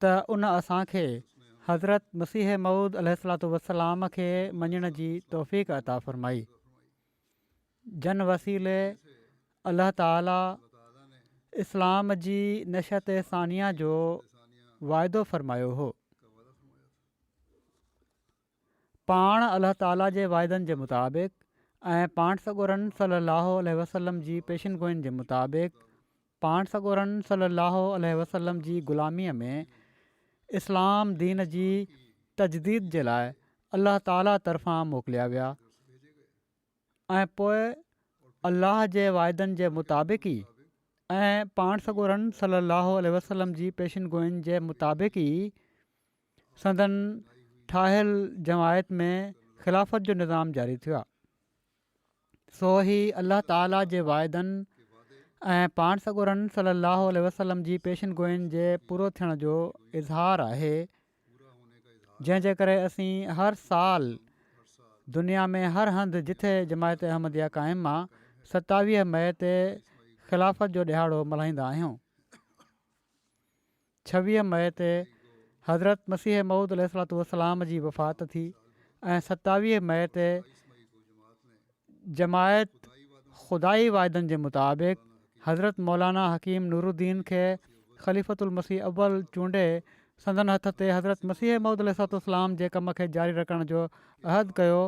ته ان اسان کي حضرت مسيح موعود عليه الصلوة والسلام کي مڃڻ جي توفيق عطا فرمائي جن وسيلي الله تعالي اسلام جي نشت ثانيه جو واعدو فرمايو هو پاڻ الله تعالي جي وعدن جي مطابق ۽ پاڻ سڳورن صلّي اللّٰه عليه وسلّم جي پيشن گوئين جي مطابق پاڻ سڳورن صلّي اللّٰه عليه وسلّم جي غلاميء ۾ اسلام دين جي تجديد جي لاء الله تعالي طرفان موڪليا ويا ۽ پوء الله جي وعدن جي مطابق ئي ۽ پاڻ سڳورن صلّي اللّٰه عليه وسلّم جي پيشن گوئين جي مطابق ئي سندن ٺاهيل جماعت ۾ خلافت جو نظام جاري ٿيو آهي سو هي الله تعالي جي واعدن ۽ پاڻ سڳورن صلي الله عليه وسلم جي پيشن گوئين جي پورو ٿيڻ جو اظهار آهي جنهن جي ڪري اسين هر سال دنيا ۾ هر هنڌ جٿي جماعت احمديه قائم آ ستاويهه مئي تي خلافت جو ڏهاڙو ملهائيندا آهيون ڇويهه مئي تي حضرت مسيح موعود عليه الصلات والسلام جي وفات ٿي ۽ ستاويهه مئي تي جماعت خدائي واعدن جي مطابق حضرت مولانا حڪيم نورالدين کي خليفت المسيح اول چونڊي سندن هٿ تي حضرت مسيح موعود عليه الصلات والسلام جي ڪم کي جاري رکڻ جو عهد ڪيو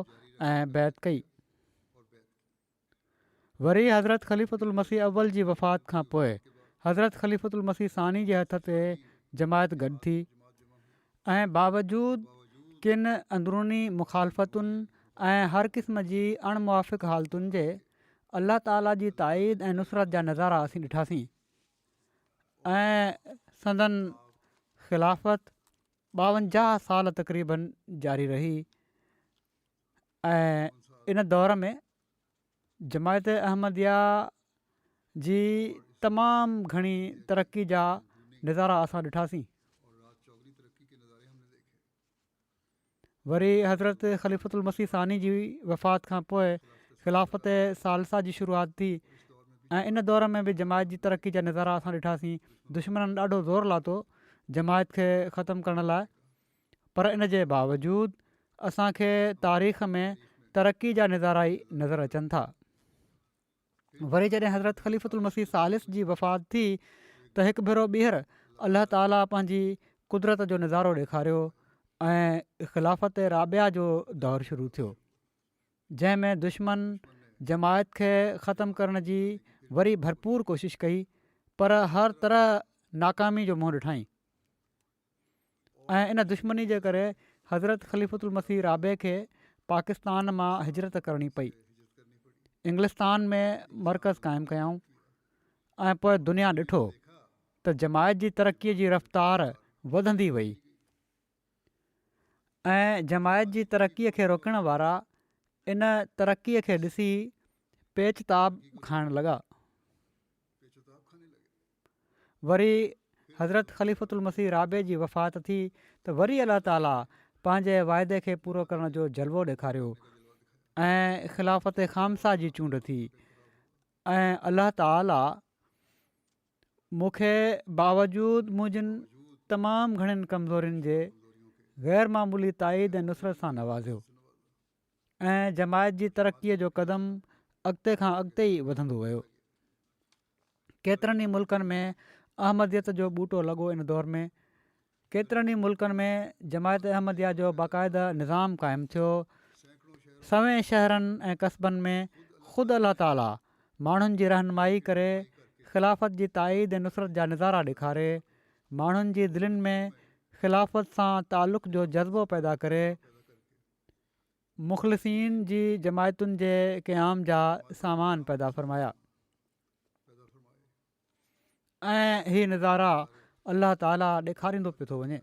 ۽ بيعت ڪئي. وري حضرت خليفة المسيح اول جي وفات کان پوء حضرت خليفة المسيح ثاني جي هٿ تي جماعت گڏ ٿي ۽ باوجود ڪن اندروني مخالفتن ۽ هر قسم جي اڻ موافق حالتن جي الله تعالي جي تائيد ۽ نصرت جا نظارا اسين ڏٺاسين ۽ سندن خلافت ٻاونجاهه سال تقريبن جاري رهي ۽ ان دور ۾ جماعت احمديه جي تمام گهڻي ترقي جا نظارا اسان ڏٺاسين. وري حضرت خليفت المسيح ثاني جي وفات کان پوء خلافت ثالثه جي شروعات ٿي ۽ ان دور ۾ به جماعت جي ترقي جا نظارا اسان ڏٺاسين. دشمنن ڏاڍو زور لاتو جماعت کي ختم ڪرڻ لاء. پر ان جي باوجود اسان کي تاريخ ۾ ترقي جا نظارا ئي نظر اچن ٿا. وري جڏهن حضرت خليفة المسيح ثالث جي وفات ٿي ته هڪ ڀيرو ٻيهر الله تعاليٰ پنهنجي قدرت جو نظارو ڏيکاريو ۽ خلافت رابعه جو دور شروع ٿيو جنهن ۾ دشمن جماعت کي ختم ڪرڻ جي وري ڀرپور ڪوشش ڪئي پر هر طرح ناڪامي جو منهن ڏٺائين. ۽ ان دشمني جي ڪري حضرت خليفة المسيح رابع کي پاڪستان مان هجرت ڪرڻي پئي انگلستان ۾ مرڪز قائم ڪيائون ۽ پوء دنيا ڏٺو ته جماعت جي ترقي جي رفتار وڌندي وئي ۽ جماعت جي ترقي کي روڪڻ وارا ان ترقي کي ڏسي پيچ تاب کائڻ لڳا وري حضرت خليفة المسيح رابع جي وفات ٿي ته وري الله تعالي پنهنجي واعدي کي پورو ڪرڻ جو جلوو ڏيکاريو ۽ خلافت خامسا جي چونڊ ٿي ۽ الله تعالي مون کي باوجود منهنجن تمام گهڻين ڪمزورين جي غير معمولي تائيد ۽ نصرت سان نوازيو. ۽ جماعت جي ترقي جو قدم اڳتي کان اڳتي ئي وڌندو ويو ڪيترن ئي ملڪن ۾ احمديت جو ٻوٽو لڳو ان دور ۾ ڪيترن ئي ملڪن ۾ جماعت احمديا جو باقاعده نظام قائم ٿيو سوين شهرن ۽ قصبن ۾ خود الله تعاليٰ ماڻهن جي رهنمائي ڪري خلافت جي تائيد ۽ نصرت جا نظارا ڏيکاري ماڻهن جي دلين ۾ خلافت سان تعلق جو جذبو پيدا ڪري مخلصين جي جماعتن جي قيام جا سامان پيدا فرمايا ۽ هي نظارا الله تعالي ڏيکاريندو پيو ٿو وڃي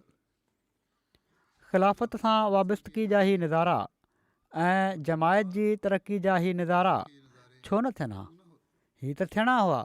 خلافت سان وابستگي جا هي نظارا ۽ جماعت جي ترقي جا هي نظارا ڇو نه ٿيڻ ها هي ته ٿيڻا هئا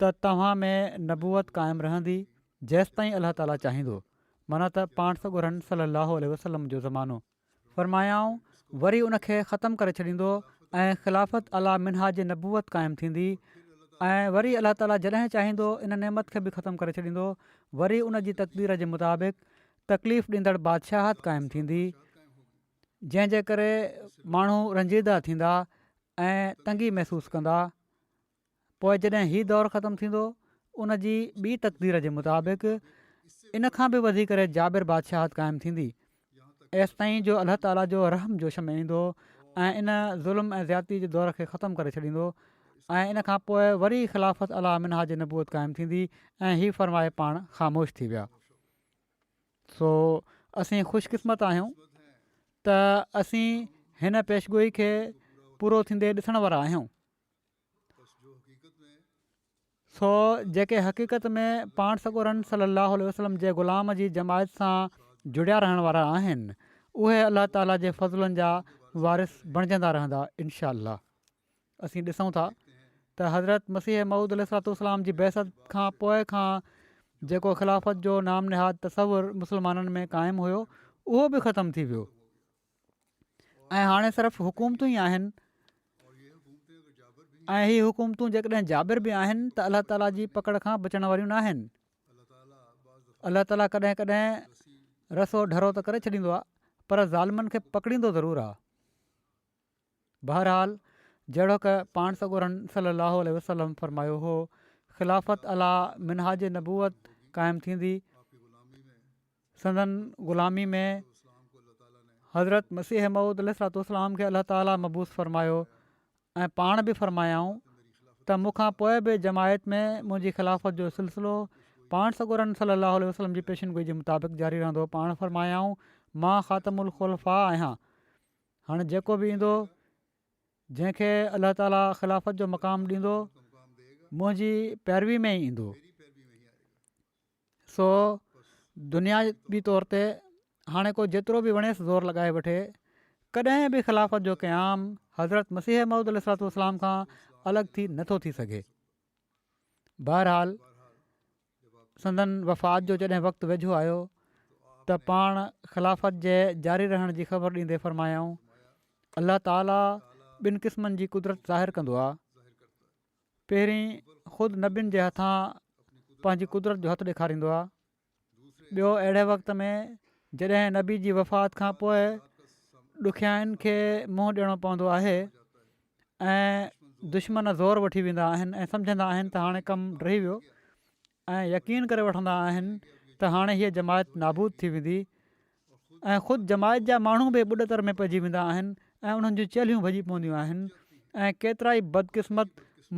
ته توهان ۾ نبوت قائم رهندي جيستائين الله تعالي چاهيندو معنيٰ ته پاڻ سڳو رن صلّي اللّٰه عليه وسلّم جو زمانو فرمايائون وري ان کي ختم ڪري ڇڏيندو ۽ خلافت عليٰ منهاج نبوت قائم ٿيندي ۽ وري الله تعالي جڏهن چاهيندو ان نعمت کي به ختم ڪري ڇڏيندو وري ان جي تقدير جي مطابق تڪليف ڏيندڙ بادشاهت قائم ٿيندي جنهن جي ڪري ماڻهو رنجيده ٿيندا ۽ تنگي محسوس ڪندا پوء جڏهن هي دور ختم ٿيندو ان جي ٻي تقدير جي مطابق ان کان به وڌي ڪري جابر بادشاهت قائم ٿيندي ايستائين جو الله تعاليٰ جو رحم جوش ۾ ايندو ۽ ان ظلم ۽ زيادتي جي دور کي ختم ڪري ڇڏيندو ۽ ان کان پوء وري خلافت علا منها جي نبوت قائم ٿيندي ۽ هي فرمائي پاڻ خاموش ٿي ويا سو اسين خوش قسمت آهيون ته اسين هن پيشگوئي کي پورو ٿيندي ڏسڻ وارا آهيون سو جيڪي حقيقت ۾ پاڻ سڳورن صلّي اللّٰه عليه وسلّم جي غلام جي جماعت سان جڙيا رهڻ وارا آهن اهي الله تعاليٰ جي فضلن جا وارث بڻجندا رهندا انشاء اللّٰه اسين ڏسون ٿا ته حضرت مسيح موعود عليه الصلّٰه والسلّام جي بعثت کان پوء کان جيڪو خلافت جو نام نهاد تصّور مسلمانن ۾ قائم هيو اهو به ختم ٿي ويو ۽ هاڻي صرف حڪومتون ئي آهن ۽ هي حڪومتون جيڪڏهن جابر به آهن ته الله تعاليٰ جي پڪڙ کان بچڻ واريون نه آهن الله تعاليٰ ڪڏهن ڪڏهن رسو ڍرو ته ڪري ڇڏيندو آهي پر ظالمن کي پڪڙيندو ضرور آهي بهرحال جهڙوڪ پاڻ سڳورن صلّي اللّٰه عليه وسلّم فرمايو هو خلافت عليٰ منهاج نبوت قائم ٿيندي سندن غلامي ۾ حضرت مسيح موعود عليه الصلاة والسلام کي الله تعالٰي مبعوث فرمايو ۽ پاڻ به فرمايائون ته مون کان پوء به جماعت ۾ منهنجي خلافت جو سلسلو پاڻ سڳورن صلّي اللّٰه عليه وسلّم جي پيشن گوئي جي مطابق جاري رهندو پاڻ فرمايائون مان خاتم الخلفاء آهيان هاڻي جيڪو به ايندو جنهن کي الله تعاليٰ خلافت جو مقام ڏيندو منهنجي پيروي ۾ ئي ايندو سو دنيا بي طور تي هاڻي ڪو جيترو به وڻيس زور لڳائي وٺي ڪڏهن به خلافت جو قيام حضرت مسيح محمود عليه السلام کان الڳ ٿي نٿو ٿي سگهي بهرحال سندن وفات جو جڏهن وقت ويجهو آيو ته پاڻ خلافت جي جاري رهڻ جي خبر ڏيندي فرمايائون الله تعالي ٻن قسمن جي قدرت ظاهر ڪندو آهي پهرين خود نبين جي هٿان پنهنجي قدرت جو هٿ ڏيکاريندو آهي ٻيو اهڙي وقت ۾ جڏهن نبي جي وفات کان پوء ڏکيائين کي منهن ڏيڻو پوندو آهي ۽ دشمن زور وٺي ويندا آهن ۽ سمجهندا آهن ته هاڻي ڪم ڊهي ويو ۽ يقين ڪري وٺندا آهن ته هاڻي هيء جماعت نابود ٿي ويندي ۽ خود جماعت جا ماڻهو به ٻڏ تر ۾ پئجي ويندا آهن ۽ انهن جون چلهيون ڀڄي پونديون آهن ۽ ڪيترائي بدقسمت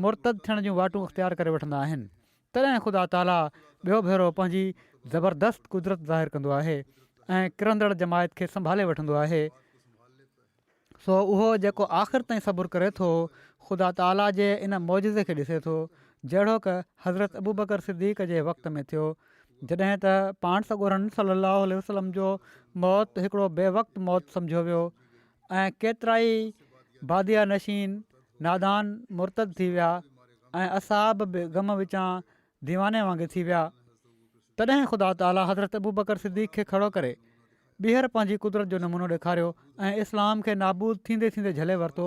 مرتد ٿيڻ جون واٽون اختيار ڪري وٺندا آهن تڏهن خدا تعاليٰ ٻيو ڀيرو پنهنجي زبردست قدرت ظاهر ڪندو آهي ۽ ڪرندڙ جماعت کي سنڀالي وٺندو آهي سو اهو جيڪو آخر تائين صبر ڪري ٿو، خدا تعاليٰ جي ان معجزي کي ڏسي ٿو، جهڙوڪ حضرت ابوبڪر صديق جي وقت ۾ ٿيو، جڏهن ته پاڻ سڳورن صلّي اللّٰه عليه وسلّم جو موت هڪڙو بي وقت موت سمجهيو ويو ۽ ڪيترائي باديه نشين نادان مرتد ٿي ويا ۽ اصحاب به غم وچان ديواني وانگي ٿي ويا. تڏهن خدا تعاليٰ حضرت ابوبڪر صديق کي کڙو ڪري، ٻيهر پنهنجي قدرت جو نمونو ڏيکاريو ۽ اسلام کي نابود ٿيندي ٿيندي جهلي ورتو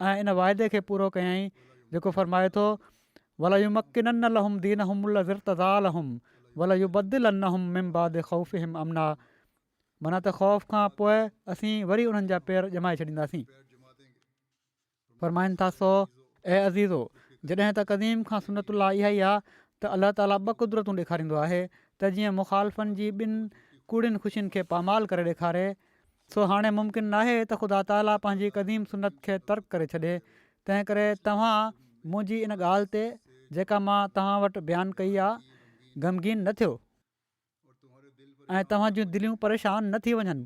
۽ ان واعدي کي پورو ڪيائين جيڪو فرمائي ٿو، وليمڪنن لهم دينهم الذي ارتضي لهم وليبدلنهم من بعد خوفهم امنا معنيٰ ته خوف کان پوء اسين وري انهن جا پير ڄمائي ڇڏينداسين. فرمائن ٿا سو، اي عزيزو! جڏهن ته قديم کان سنت الله اها ئي آهي ته الله تعاليٰ ٻه قدرتون ڏيکاريندو آهي ته جيئن مخالفن جي ٻن ڪوڙين خوشين کي پامال ڪري ڏيکاري، سو هاڻي ممڪن ناهي ته خدا تعاليٰ پنهنجي قديم سنت کي ترڪ ڪري ڇڏي، تنهنڪري توهان منهنجي ان ڳالهه تي جيڪا مان توهان وٽ بيان ڪئي آهي، غمگين نه ٿيو. ۽ توهان جون دليون پريشان نه ٿي وڃن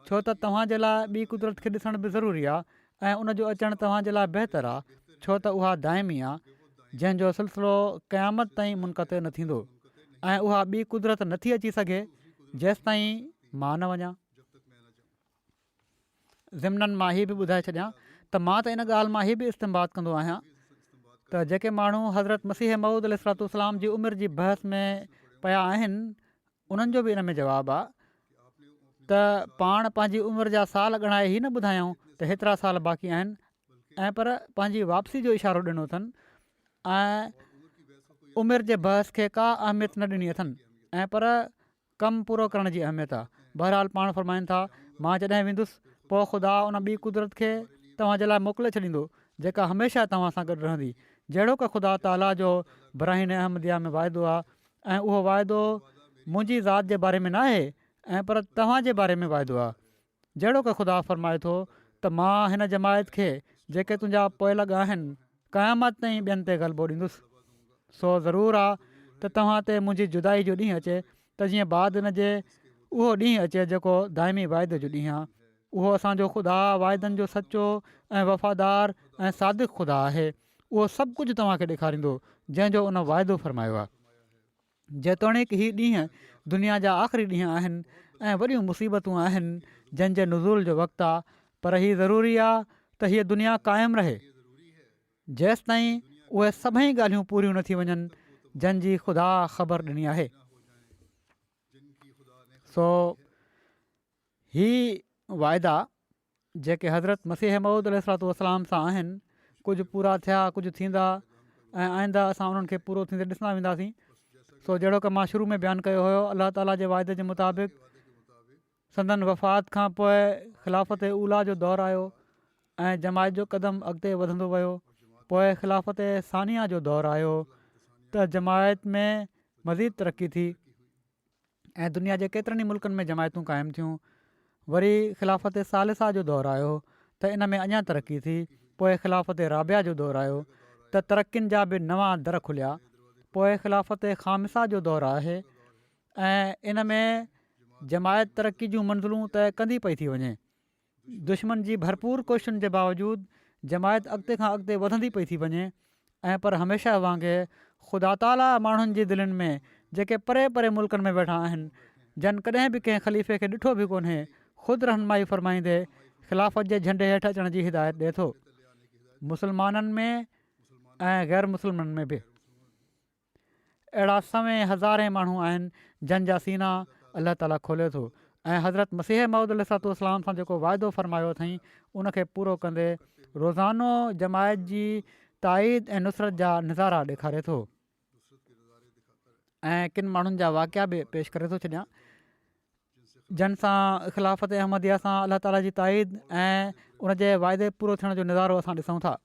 ڇو ته توهان جي لاء ٻي قدرت کي ڏسڻ به ضروري آهي ۽ ان جو اچڻ توهان جي لاء بهتر آهي ڇو ته اها دائمي آهي جنهن جو سلسلو قيامت تائين منقطع نه ٿيندو ۽ اها ٻي قدرت نه ٿي اچي سگهي جيستائين مان نه وڃان ضمناً مان هي به ٻڌائي ڇڏيان ته مان ته ان ڳالهه مان هي به استنباط ڪندو آهيان ته جيڪي ماڻهو حضرت مسيح موعود عليه الصلاة والسلام جي عمر جي بحث ۾ پيا آهن انهن جو به ان ۾ جواب آهي ته پاڻ پنهنجي عمر جا سال ڳڻائي هي نه ٻڌايائون ته هيترا سال باقي آهن ۽ پر پنهنجي واپسي جو اشارو ڏنو اٿن ۽ عمر جي بحث کي ڪا اهميت نه ڏني اٿن ۽ پر ڪم پورو ڪرڻ جي اهميت آ. بهرحال پاڻ فرمائن ٿا، مان جڏهن ويندس، پوء خدا ان ٻي قدرت کي توهان جي لاء موڪلي ڇڏيندو، جيڪا هميشه توهان سان گڏ رهندي، جهڙوڪ خدا تعاليٰ جو براهين احمديه ۾ واعدو آ ۽ اهو واعدو منهنجي ذات جي باري ۾ ناهي ۽ پر توهان جي باري ۾ واعدو آ. جهڙوڪ خدا فرمائي ٿو ته مان هن جماعت کي جيڪي تنهنجا پوئلڳ آهن قيامت تائين ٻين تي غلبو ڏيندس سو ضرور آ ته توهان تي منهنجي جدائي جو ڏينهن اچي ته جيئن بعد هن جي اهو ڏينهن اچي جيڪو دائمي واعدي جو ڏينهن آ اهو اسان جو خدا واعدن جو سچو ۽ وفادار ۽ صادق خدا آهي اهو سڀ ڪجهه توهان کي ڏيکاريندو جنهن جو ان واعدو فرمايو آ. جيتوڻيڪ هي ڏينهن دنيا جا آخري ڏينهن آهن ۽ وڏيون مصيبتون آهن جن جي نزول جو وقت آهي پر هي ضروري آهي ته هيء دنيا قائم رهي جيستائين اهي سڀئي ڳالهيون پوريون نه ٿي وڃن جن جي خدا خبر ڏني آهي سو هي واعدا جيڪي حضرت مسيح موعود عليه الصلوة والسلام سان آهن ڪجهه پورا ٿيا ڪجهه ٿيندا ۽ آئنده اسان انهن کي پورو ٿيندي ڏسندا وينداسين سو جهڙوڪ مان شروع ۾ بيان ڪيو هيو الله تعاليٰ جي واعدي جي مطابق سندن وفات کان پوء خلافت اولا جو دور آيو ۽ جماعت جو قدم اڳتي وڌندو ويو پوء خلافت ثانيه جو دور آيو ته جماعت ۾ مزيد ترقي ٿي ۽ دنيا جي ڪيترن ئي ملڪن ۾ جماعتون قائم ٿيون وري خلافت ثالثه جو دور آيو ته ان ۾ اڃا ترقي ٿي پوء خلافت رابعه جو دور آيو ته ترقين جا به نوان در کليا پوء خلافت خامسا جو دور آهي ۽ ان ۾ جماعت ترقي جون منزلون طئي ڪندي پئي ٿي وڃي دشمن جي ڀرپور ڪوششن جي باوجود جماعت اڳتي کان اڳتي وڌندي پئي ٿي وڃي ۽ پر هميشه وانگي خدا تعاليٰ ماڻهن جي دلين ۾ جيڪي پري پري ملڪن ۾ ويٺا آهن جن ڪڏهن به ڪنهن خليفي کي ڏٺو به ڪونهي خود رهنمائي فرمائيندي خلافت جي جهنڊي هيٺ اچڻ جي هدايت ڏئي ٿو مسلمانن ۾ ۽ غيرمسلمن ۾ به. اهڙا سوين هزارين ماڻهو آهن جن جا سينا الله تعالي کولي ٿو ۽ حضرت مسيح موعود عليه الصلوة والسلام سان جيڪو واعدو فرمايو اٿئين ان کي پورو ڪندي روزانو جماعت جي تائيد ۽ نصرت جا نظارا ڏيکاري ٿو ۽ ڪن ماڻهن جا واقعا به پيش ڪري ٿو ڇڏيان جن سان خلافت احمديه سان الله تعالي جي تائيد ۽ ان جي واعدي پورو ٿيڻ جو نظارو اسان ڏسون ٿا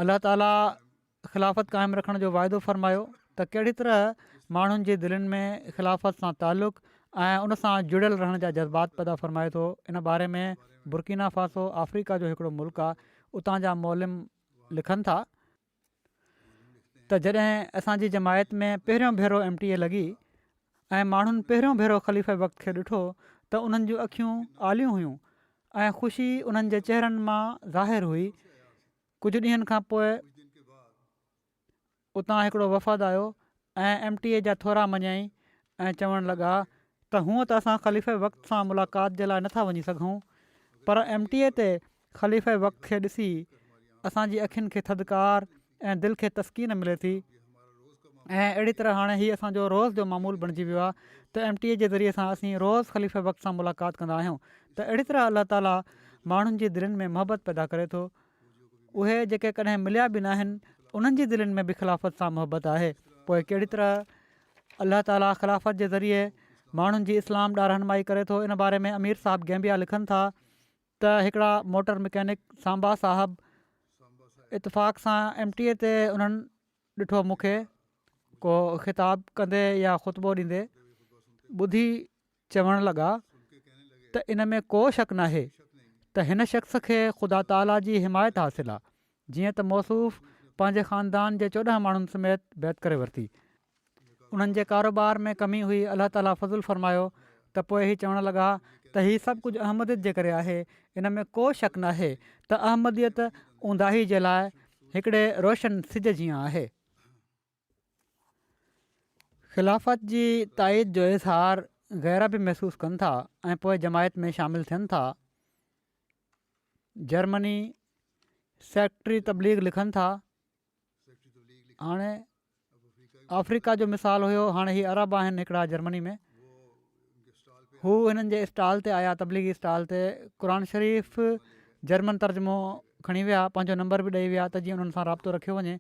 الله تعالي خلافت قائم رکڻ جو واعدو فرمايو ته ڪهڙي طرح ماڻهن جي دلين ۾ خلافت سان تعلق ۽ ان سان جڙيل رهڻ جا جذبات پيدا فرمائي ٿو ان باري ۾ برڪينا فاسو آفريڪا جو هڪڙو ملڪ آهي اتان جا معلم لکن ٿا ته جڏهن اسان جي جماعت ۾ پهريون ڀيرو ايم ٽي اي لڳي ۽ ماڻهن پهريون ڀيرو خليفه وقت کي ڏٺو ته انهن جون اکيون آليون هيون ۽ خوشي انهن جي چهرن مان ظاهر هئي ڪجهه ڏينهن کان پوء اتان هڪڙو وفد آيو ۽ ايم ٽي اي جا ٿورا مڃيائين ۽ چوڻ لڳا ته هونء ته اسان خليفه وقت سان ملاقات جي لاء نٿا وڃي سگهون پر ايم ٽي اي تي خليفه وقت کي ڏسي اسان جي اکين کي ٿڌڪار ۽ دل کي تسڪين ملي ٿي ۽ اهڙي طرح هاڻي هي اسان جو روز جو معمول بڻجي ويو آهي ته ايم ٽي اي جي ذريعي سان اسين روز خليفه وقت سان ملاقات ڪندا آهيون ته اهڙي طرح الله تعالي ماڻهن جي دلين ۾ محبت پيدا ڪري ٿو اهي جيڪي ڪڏهن مليا به نه آهن انهن جي دلين ۾ به خلافت سان محبت آهي پوء ڪهڙي طرح الله تعالي خلافت جي ذريعي ماڻهن جي اسلام ڏانهن رهنمائي ڪري ٿو ان باري ۾ امير صاحب گيمبيا لکن ٿا ته هڪڙا موٽر مڪينڪ سانبا صاحب اتفاق سان ايم ٽي اي تي انهن ڏٺو مون کي ڪو خطاب ڪندي يا خطبو ڏيندي ٻڌي چوڻ لڳا ته ان ۾ ڪو شڪ ناهي ته هن شخص کي خدا تعاليٰ جي حمايت حاصل آهي جيئن ته موصوف پنهنجي خاندان جي چوڏهن ماڻهن سميت بيعت ڪري ورتي. انهن جي ڪاروبار ۾ ڪمي هئي، الله تعاليٰ فضل فرمايو ته پوء هي چوڻ لڳا ته هي سڀ ڪجهه احمديت جي ڪري آهي، ان ۾ ڪو شڪ ناهي ته احمديت اونداهي جي لاء هڪڙي روشن سج جيان آهي. خلافت جي تائيد جو اظهار غيره به محسوس ڪن ٿا ۽ پوء جماعت ۾ شامل ٿين ٿا. جرمني، سيڪريٽري تبليغ لکن ٿا، هاڻي آفريڪا جو مثال هيو، هاڻي هي عرب آهن هڪڙا جرمني ۾، هو هنن جي اسٽال تي آيا، تبليغي اسٽال تي، قرآن شريف جرمن ترجمو کڻي ويا، پنهنجو نمبر به ڏئي ويا ته جيئن انهن سان رابطو رکيو وڃي.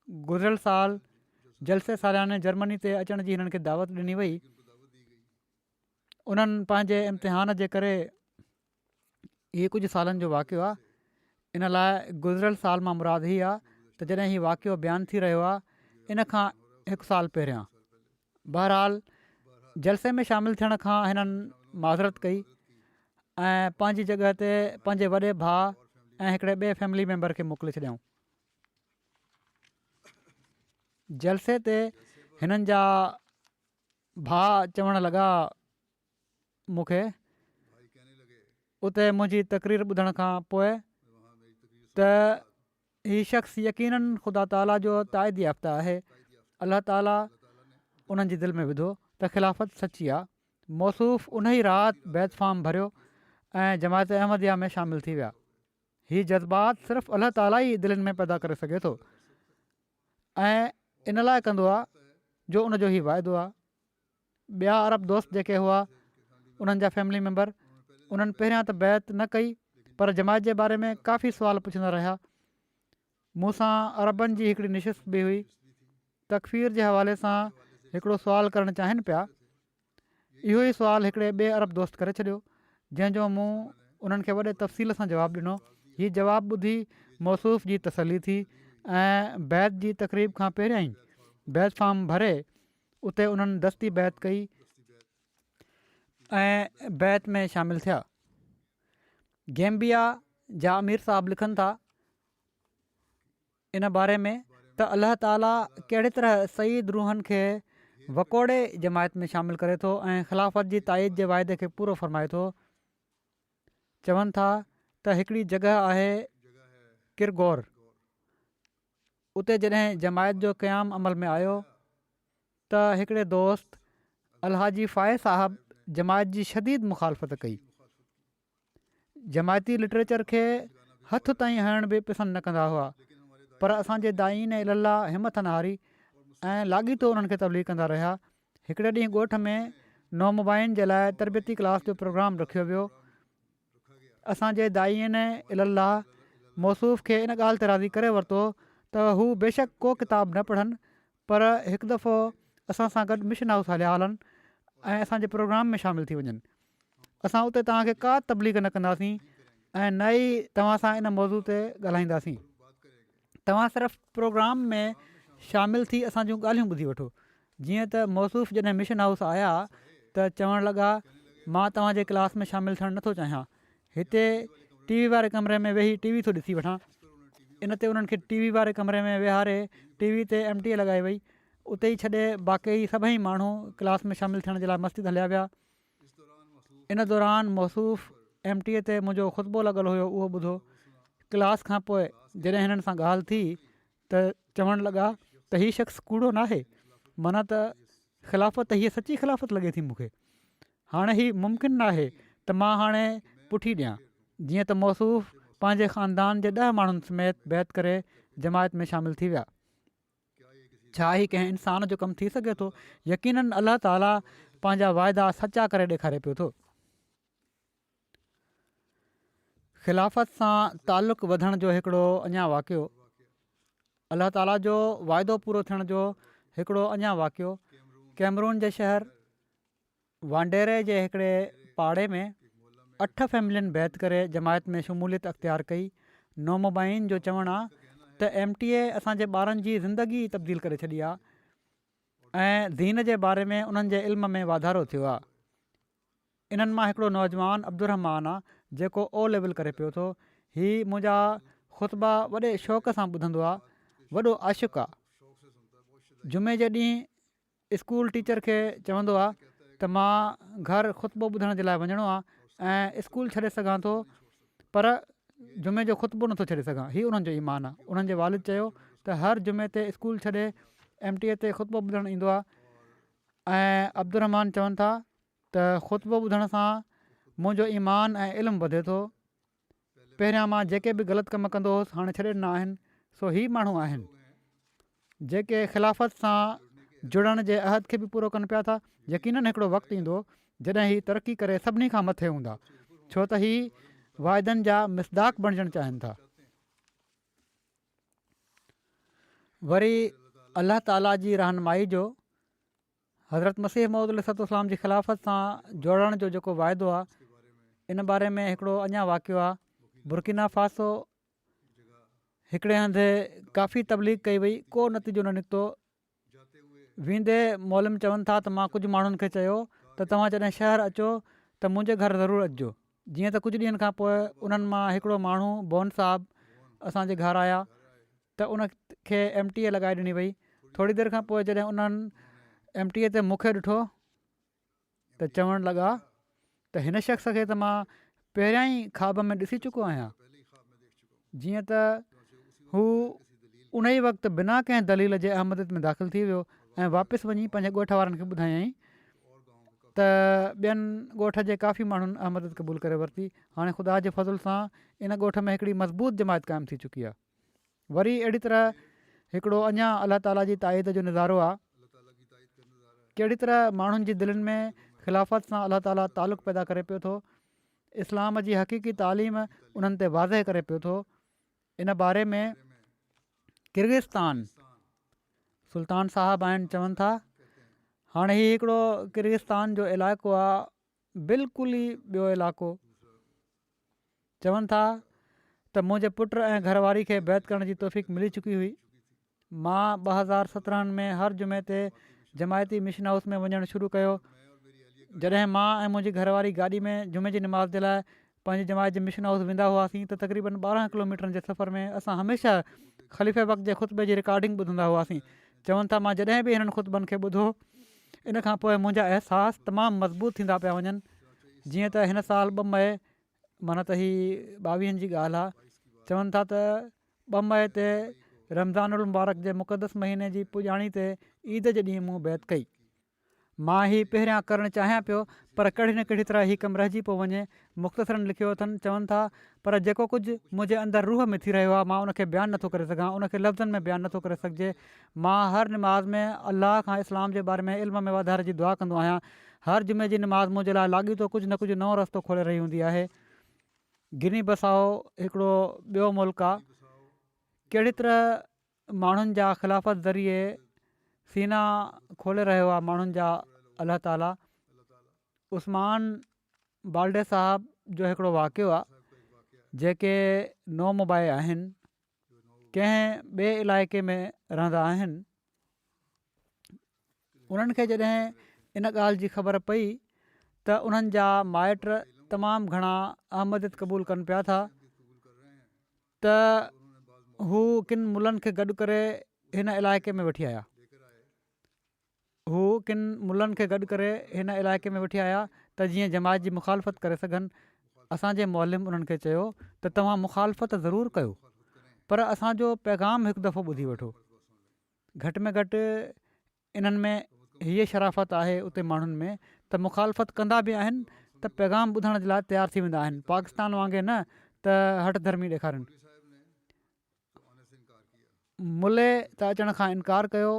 گذريل سال جلسي سالياني جرمني تي اچڻ جي هنن کي دعوت ڏني وئي انهن پنهنجي امتحان جي ڪري هي ڪجهه سالن جو واقعو آهي ان لاء گذريل سال مان مراد هي آهي ته جڏهن هي واقعو بيان ٿي رهيو آهي ان کان هڪ سال پهريان بهرحال جلسي ۾ شامل ٿيڻ کان هنن معذرت ڪئي ۽ پنهنجي جڳهه تي پنهنجي وڏي ڀاء ۽ هڪڙي ٻئي فيملي ميمبر کي موڪلي ڇڏيائون جلسي تي هنن جا ڀاء چوڻ لڳا مون کي اتي منهنجي تقرير ٻڌڻ کان پوء ته هي شخص يقينا خدا تعالي جو تائيد يافته آهي الله تعالي انهن جي دل ۾ وڌو ته خلافت سچي آهي موصوف ان ئي رات بيت فارم ڀريو ۽ جماعت احمديه ۾ شامل ٿي ويا هي جذبات صرف الله تعالي ئي دلين ۾ پيدا ڪري سگهي ٿو ۽ ان لاء ڪندو آهي جو ان جو هي واعدو آهي ٻيا عرب دوست جيڪي هئا انهن جا فيملي ميمبر انهن پهريان ته بيعت نه ڪئي پر جماعت جي باري ۾ ڪافي سوال پڇندا رهيا مون سان عربن جي هڪڙي نشست به هئي، تڪفير جي حوالي سان هڪڙو سوال ڪرڻ چاهين پيا، اهو ئي سوال هڪڙي ٻئي عرب دوست ڪري ڇڏيو، جنهن جو مون انهن کي وڏي تفصيل سان جواب ڏنو، هي جواب ٻڌي موصوف جي تسلي ٿي ۽ بيعت جي تقريب کان پهريائين بيعت فارم ڀري اتي انهن دستي بيعت ڪئي، ۽ بيعت ۾ شامل ٿيا. گيمبيا جا امير صاحب لکن ٿا ان باري ۾ ته الله تعالي ڪهڙي طرح سيد روحن کي وڪوڙي جماعت ۾ شامل ڪري ٿو ۽ خلافت جي تائيد جي واعدي کي پورو فرمائي ٿو چون ٿا ته هڪڙي جڳهه آهي ڪرغور اتي جڏهن جماعت جو قيام عمل ۾ آيو ته هڪڙي دوست الحاجي فائز صاحب جماعت جي شديد مخالفت ڪئي جماعتي لٽريچر کي هٿ تائين هڻڻ به پسند نه ڪندا هئا پر اسانجي دائين الله همٿ نه هاري ۽ لاڳيتو انهن کي تبليغ ڪندا رهيا هڪڙي ڏينهن ڳوٺ ۾ نومبائن جي لاء تربيتي ڪلاس جو پروگرام رکيو ويو اسان جي داعين الي الله موصوف کي ان ڳالهه تي راضي ڪري ورتو ته هو بيشڪ ڪو ڪتاب نه پڙهن پر هڪ دفعو اسان سان گڏ مشن هائوس هليا هلن ۽ اسان جي پروگرام ۾ شامل ٿي وڃن اسان اتي توهان کي ڪا تبليغ نه ڪنداسين ۽ نه ئي توهان سان ان موضوع تي ڳالهائينداسين توهان صرف پروگرام ۾ شامل ٿي اسان جون ڳالهيون ٻڌي وٺو جيئن ته موصوف جڏهن مشن هائوس آيا ته چوڻ لڳا مان توهان جي ڪلاس ۾ شامل ٿيڻ نٿو چاهيان هتي ٽي وي واري ڪمري ۾ ويهي ٽي وي ٿو ڏسي وٺان ان تي انهن کي ٽي وي واري ڪمري ۾ ويهاري ٽي وي تي ايم ٽي لڳائي وئي اتي ئي ڇڏي باقي سڀئي ماڻهو ڪلاس ۾ شامل ٿيڻ جي لاء مسجد هليا ويا ان دوران موصوف ايم ٽي اي تي منهنجو خطبو لڳل هيو اهو ٻڌو ڪلاس کان پوء جڏهن هنن سان ڳالهه ٿي ته چوڻ لڳا ته هي شخص ڪوڙو ناهي منا ته خلافت هي سچي خلافت لڳي ٿي مون کي هاڻي هي ممڪن ناهي ته مان هاڻي پٺي ڏيان جيئن ته موصوف پنهنجي خاندان جي ڏهه ماڻهن سميت بيعت ڪري جماعت ۾ شامل ٿي ويا ڇا هي ڪنهن انسان جو ڪم ٿي سگهي ٿو؟ يقيناً الله تعاليٰ پنهنجا واعدا سچا ڪري ڏيکاري پيو ٿو. خلافت سان تعلق وڌڻ جو هڪڙو اڃا واقعو، الله تعاليٰ جو واعدو پورو ٿيڻ جو هڪڙو اڃا واقعو، ڪيمرون جي شهر، وانڊيري جي هڪڙي پاڙي ۾ اٺ فيملين بيعت ڪري جماعت ۾ شموليت اختيار ڪئي نومبائين جو چوڻ آهي ته ايم ٽي اي اسان جي ٻارن جي زندگي ئي تبديل ڪري ڇڏي آهي ۽ دين جي باري ۾ انهن جي علم ۾ واڌارو ٿيو آهي انهن مان هڪڙو نوجوان عبدالرحمان آهي جيڪو او ليول ڪري پيو ٿو هي منهنجا خطبا وڏي شوق سان ٻڌندو آهي وڏو عاشق آهي جمعي جي ڏينهن اسڪول ٽيچر کي چوندو آ ته مان گهر خطبو ٻڌڻ جي لاء وڃڻو آ ۽ اسڪول ڇڏي سگهان ٿو پر جمعي جو خطبو نٿو ڇڏي سگهان هي انهن جو ايمان آ انهن جي والد چيو ته هر جمعي تي اسڪول ڇڏي ايم ٽي اي تي خطبو ٻڌڻ ايندو آ ۽ عبدالرحمان چون ٿا ته خطبو ٻڌڻ سان منهنجو ايمان ۽ علم وڌي ٿو پهريان مان جيڪي به غلط ڪم ڪندو هوس هاڻي ڇڏي ڏنا آهن سو هي ماڻهو آهن جيڪي خلافت سان جڙڻ جي عهد کي به پورو ڪن پيا ٿا يقينن هڪڙو وقت ايندو جڏهن هي ترقي ڪري سڀني کان مٿي هوندا ڇو ته هي واعدن جا مصداق بڻجڻ چاهين ٿا وري الله تعالي جي رهنمائي جو حضرت مسيح موعود عليه الصلوة والسلام جي خلافت سان جوڙڻ جو جيڪو واعدو آهي ان باري ۾ هڪڙو اڃا واقعو آهي برڪينا فاسو هڪڙي هنڌ ڪافي تبليغ ڪئي وئي ڪو نتيجو نه نڪتو ويندي مولم چون ٿا ته مان ڪجهه ماڻهن کي چيو ته توهان جڏهن شهر اچو ته منهنجي گهر ضرور اچجو جيئن ته ڪجهه ڏينهن کان پوء انهن مان هڪڙو ماڻهو بون صاحب اسان جي گهر آيا ته ان کي ايم ٽي اي لڳائي ڏني وئي ٿوري دير کان پوء جڏهن انهن ايم ٽي اي تي مون کي ڏٺو ته چوڻ لڳا ته هن شخص کي ته مان پهريان ئي خواب ۾ ڏسي چڪو آهيان جيئن ته هو ان ئي وقت بنا ڪنهن دليل جي احمد ۾ داخل ٿي ويو ۽ واپس وڃي پنهنجي ڳوٺ وارن کي ٻڌايائين ته ٻين ڳوٺ جي ڪافي ماڻهن احمد قبول ڪري ورتي هاڻي خدا جي فضل سان ان ڳوٺ ۾ هڪڙي مضبوط جماعت قائم ٿي چڪي آهي وري اهڙي طرح هڪڙو اڃا الله تعالي جي تائيد جو نظارو آهي ڪهڙي طرح ماڻهن جي دلين ۾ خلافت سان الله تعالي تعلق پيدا ڪري پيو ٿو اسلام جي حقيقي تعليم انهن تي واضح ڪري پيو ٿو ان باري ۾ ڪرغستان سلطان صاحب آهن چون ٿا هاڻي هي هڪڙو ڪرغستان جو علائقو آهي بلڪل ئي ٻيو علائقو. چون ٿا ته منهنجي پٽ ۽ گهر واري کي بيعت ڪرڻ جي توفيق ملي چڪي هئي. مان ٻه هزار سترهن ۾ هر جمعي تي جماعتي مشن هائوس ۾ وڃڻ شروع ڪيو. جڏهن مان ۽ منهنجي گهر واري گاڏي ۾ جمعي جي نماز جي لاء پنهنجي جماعت جي مشن هائوس ويندا هئاسين ته تقريبن ٻارهن ڪلوميٽرن جي سفر ۾ اسان هميشه خليفه بخت جي خطبي جي رڪارڊنگ ٻڌندا هئاسين. چون ٿا مان جڏهن به هنن خطبن کي ٻڌو ان کان پوء منهنجا احساس تمام مضبوط ٿيندا پيا وڃن جيئن ته هن سال ٻه مئي معنيٰ ته هي ٻاويهن جي ڳالهه آهي چون ٿا ته ٻه مئي تي رمضان المبارڪ جي مقدس مهيني جي پڄاڻي تي عيد جي ڏينهن مون بيعت ڪئي. مان هي پهريان ڪرڻ چاهيان پيو پر ڪهڙي نه ڪهڙي طرح هي ڪم رهجي پيو وڃي. مختصراً لکيو اٿن، چون ٿا، پر جيڪو ڪجهه منهنجي اندر روح ۾ ٿي رهيو آهي مان ان کي بيان نٿو ڪري سگهان، ان کي لفظن ۾ بيان نٿو ڪري سگهجي. مان هر نماز ۾ الله کان اسلام جي باري ۾ علم ۾ واڌاري جي دعا ڪندو آهيان. هر جمعي جي نماز منهنجي لاء لاڳيتو ڪجهه نه ڪجهه نئون رستو کولي رهي هوندي آهي. گني بسائو هڪڙو ٻيو ملڪ آهي. ڪهڙي طرح ماڻهن جا خلافت ذريعي سينا کولي رهيو آهي ماڻهن جا الله تعالي عثمان بالڊي صاحب جو هڪڙو واقعو آهي جيڪي نو مبائي آهن ڪنهن ٻئي علائقي ۾ رهندا آهن انهن کي جڏهن ان ڳالهه جي خبر پئي ته انهن جا مائٽ تمام گهڻا احمديت قبول ڪن پيا ٿا ته هو ڪن ملن کي گڏ ڪري هن علائقي ۾ وٺي آيا هو ڪن ملن کي گڏ ڪري هن علائقي ۾ وٺي آيا ته جيئن جماعت جي مخالفت ڪري سگهن اسان جي معلم انهن کي چيو ته توهان مخالفت ضرور ڪيو پر اسان جو پيغام هڪ دفعو ٻڌي وٺو گهٽ ۾ گهٽ انهن ۾ هيء شرافت آهي اتي ماڻهن ۾ ته مخالفت ڪندا به آهن ته پيغام ٻڌڻ جي لاء تيار ٿي ويندا آهن پاڪستان وانگي نه ته هٺ ڌرمي ڏيکارين. ملي ته اچڻ کان انڪار ڪيو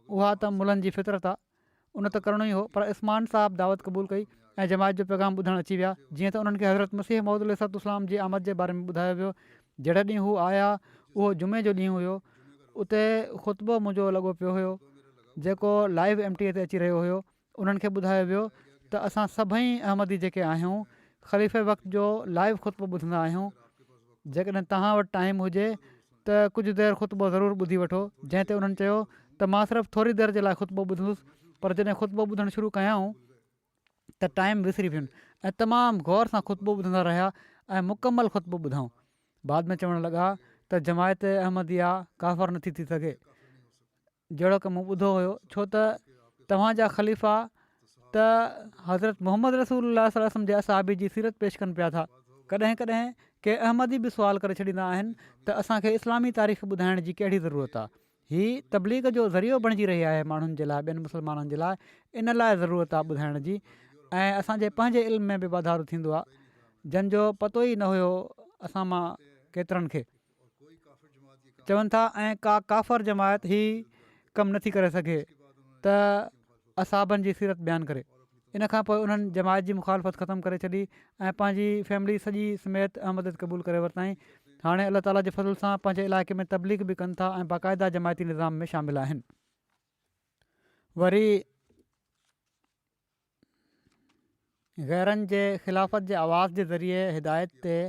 اها ته ملن جي فطرت آ ان ته ڪرڻو ئي هو پر عثمان صاحب دعوت قبول ڪئي ۽ جماعت جو پيغام ٻڌڻ اچي ويا جيئن ته انهن کي حضرت مسيح موعود عليه السلام جي آمد جي باري ۾ ٻڌايو ويو جهڙي ڏينهن هو آيا، اهو جمعي جو ڏينهن هيو، اتي خطبو منهنجو لڳو پيو هيو، جيڪو لائيو ايم ٽي اي تي اچي رهيو هيو، انهن کي ٻڌايو ويو ته اسان سڀئي احمدي جيڪي آهيون، خليفي وقت جو لائيو خطبو ٻڌندا آهيون، جيڪڏهن توهان وٽ ٽائيم هجي ته ڪجهه دير خطبو ضرور ٻڌي وٺو، جنهن تي انهن چيو ته مان صرف ٿوري دير جي لاء خطبو ٻڌندس، پر جڏهن خطبو ٻڌڻ شروع ڪيائون، ته ٽائيم وسري وين ۽ تمام غور سان خطبو ٻڌندا رهيا ۽ مڪمل خطبو ٻڌائون بعد ۾ چوڻ لڳا ته جماعت احمديه ڪافر نٿي ٿي سگهي جهڙو ڪه مون ٻڌو هيو ڇو ته توهانجا خليفا ته حضرت محمد رسول الله صلي وسلم جي اصحابي جي سيرت پيش ڪن پيا ٿا ڪڏهن ڪڏهن ڪي احمدي به سوال ڪري ڇڏيندا آهن ته اسان کي اسلامي تاريخ ٻڌائڻ جي ڪهڙي ضرورت آهي هي تبليغ جو ذريعو بڻجي رهي آهي ماڻهن جي لاء ٻين مسلمانن جي لاء ان لاء ضرورت آهي ٻڌائڻ جي ۽ اسان جي پنهنجي علم ۾ به واڌارو ٿيندو آهي جن جو پتو ئي نه هيو اسان مان ڪيترن کي چون ٿا ۽ ڪا ڪافر جماعت هي ڪم نٿي ڪري سگهي ته اصحابن جي سيرت بيان ڪري. ان کان پوء انهن جماعت جي مخالفت ختم ڪري ڇڏي ۽ پنهنجي فيملي سڄي سميت احمديت قبول ڪري ورتائين. هاڻي الله تعاليٰ جي فضل سان پنهنجي علائقي ۾ تبليغ به ڪن ٿا ۽ باقاعده جماعتي نظام ۾ شامل آهن. وري غيرن جي خلافت جي آواز جي ذريعي هدايت تي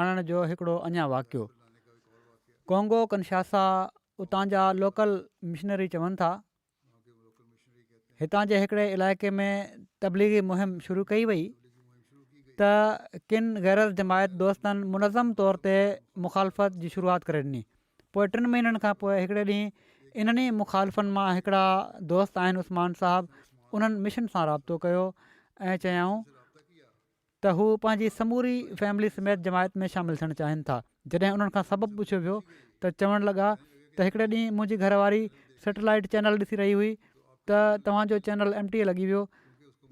آڻڻ جو هڪڙو اڃا واقعو. ڪونگو ڪنشاسا اتان جا لوڪل مشنري چون ٿا هتان جي هڪڙي علائقي ۾ تبليغي مهم شروع ڪئي وئي ته ڪن غيرت جماعت دوستن منظم طور تي مخالفت جي شروعات ڪري ڏني پوء ٽن مهينن کان پوء هڪڙي ڏينهن انهن ئي مخالفن مان هڪڙا دوست آهن عثمان صاحب انهن مشن سان رابطو ڪيو ۽ چيائون ته هو پنهنجي سموري فيملي سميت جماعت ۾ شامل ٿيڻ چاهين ٿا جڏهن انهن کان سبب پڇيو ويو ته چوڻ لڳا ته هڪڙي ڏينهن منهنجي گهر واري سيٽلائيٽ چينل ڏسي رهي هئي ته توهان جو چينل ايم ٽي اي لڳي ويو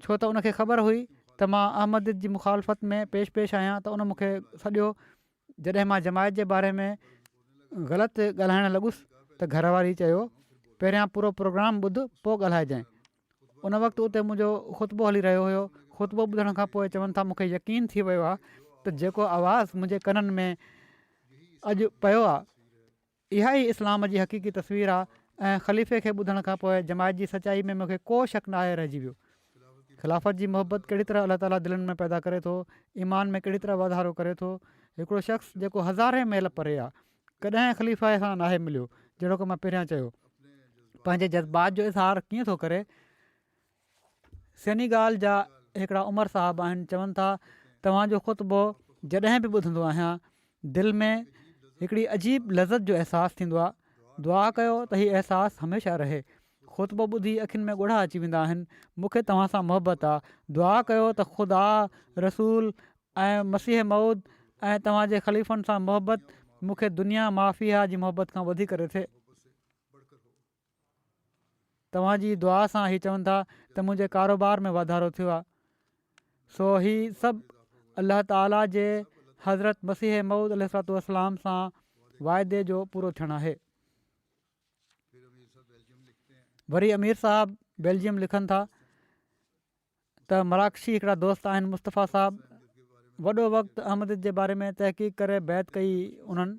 ڇو ته ان کي خبر هئي ته مان احمد جي مخالفت ۾ پيش پيش آهيان ته ان مون کي سڏيو جڏهن مان جماعت جي باري ۾ غلط ڳالهائڻ لڳس ته گهر واري چيو پهريان پورو پروگرام ٻڌ پوء ڳالهائجانء ان وقت اتي منهنجو خطبو هلي رهيو هيو خطبو ٻڌڻ کان پوء چون ٿا مونکي يقين ٿي ويو آهي ته جيڪو آواز منهنجي ڪنن ۾ اڄ پيو آهي اها ئي اسلام جي حقيقي تصوير آ ۽ خليفي کي ٻڌڻ کان پوء جماعت جي سچائي ۾ مونکي ڪو شڪ ناهي رهجي ويو. خلافت جي محبت ڪهڙي طرح الله تعالي دلن ۾ پيدا ڪري ٿو، ايمان ۾ ڪهڙي طرح واڌارو ڪري ٿو. هڪڙو شخص جيڪو هزارين ميل پري آ، ڪڏهن خليفي سان ناهي مليو، جهڙوڪ مان پهريان چيو، پنهنجي جذبات جو اظهار ڪيئن ٿو ڪري، سينيگال جا هڪڙا عمر صاحب آهن چون ٿا توهان جو خطبو جڏهن به ٻڌندو آهيان دل ۾ هڪڙي عجيب لذت جو احساس ٿيندو آهي دعا ڪيو ته هي احساس هميشه رهي خطبو ٻڌي اکين ۾ ڳڙها اچي ويندا آهن مون کي توهان سان محبت آهي دعا ڪيو ته خدا رسول ۽ مسيح مود ۽ توهان جي خليفن سان محبت مون کي دنيا معافيا جي محبت کان وڌيڪ رٿي توهان جي دعا سان هي چون ٿا ته منهنجي ڪاروبار ۾ واڌارو ٿيو آهي سو هي سڀ الله تعالي جي حضرت مسيح مئود عليه الصلاة والسلام سان واعدي جو پورو ٿيڻ آهي وري امير صاحب بيلجيم لکن ٿا ته مراڪشي هڪڙا دوست آهن مصطفيٰ صاحب وڏو وقت احمديت جي باري ۾ تحقيق ڪري بيعت ڪئي انهن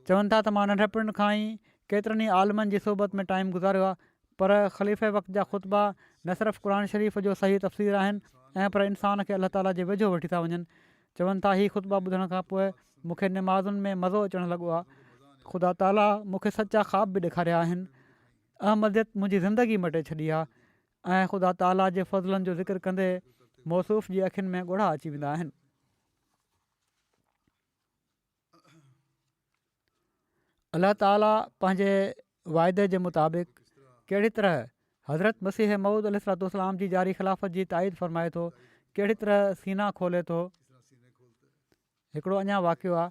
چون ٿا ته مان ننڍپڻ کان ئي ڪيترن ئي عالمن جي صحبت ۾ ٽائيم گذاريو آهي پر خليفه وقت جا خطبا نه صرف قرآن شريف جو صحيح تفسير آهن ۽ پر انسان کي الله تعاليٰ جي ويجهو وٺي ٿا وڃن چون ٿا هي خطبا ٻڌڻ کان پوء مون کي نمازن ۾ مزو اچڻ لڳو آهي خدا تعاليٰ مون کي سچا خواب به ڏيکاريا آهن احمديت منهنجي زندگي مٽي ڇڏي آهي ۽ خدا تعاليٰ جي فضلن جو ذڪر ڪندي موصوف جي اکين ۾ ڳوڙها اچي ويندا آهن. الله تعاليٰ پنهنجي واعدي جي مطابق ڪهڙي طرح حضرت مسيح مود علي صلاحت السلام جي جاري خلافت جي تائيد فرمائي ٿو ڪهڙي طرح سينا کولي ٿو هڪڙو اڃا واقعو آهي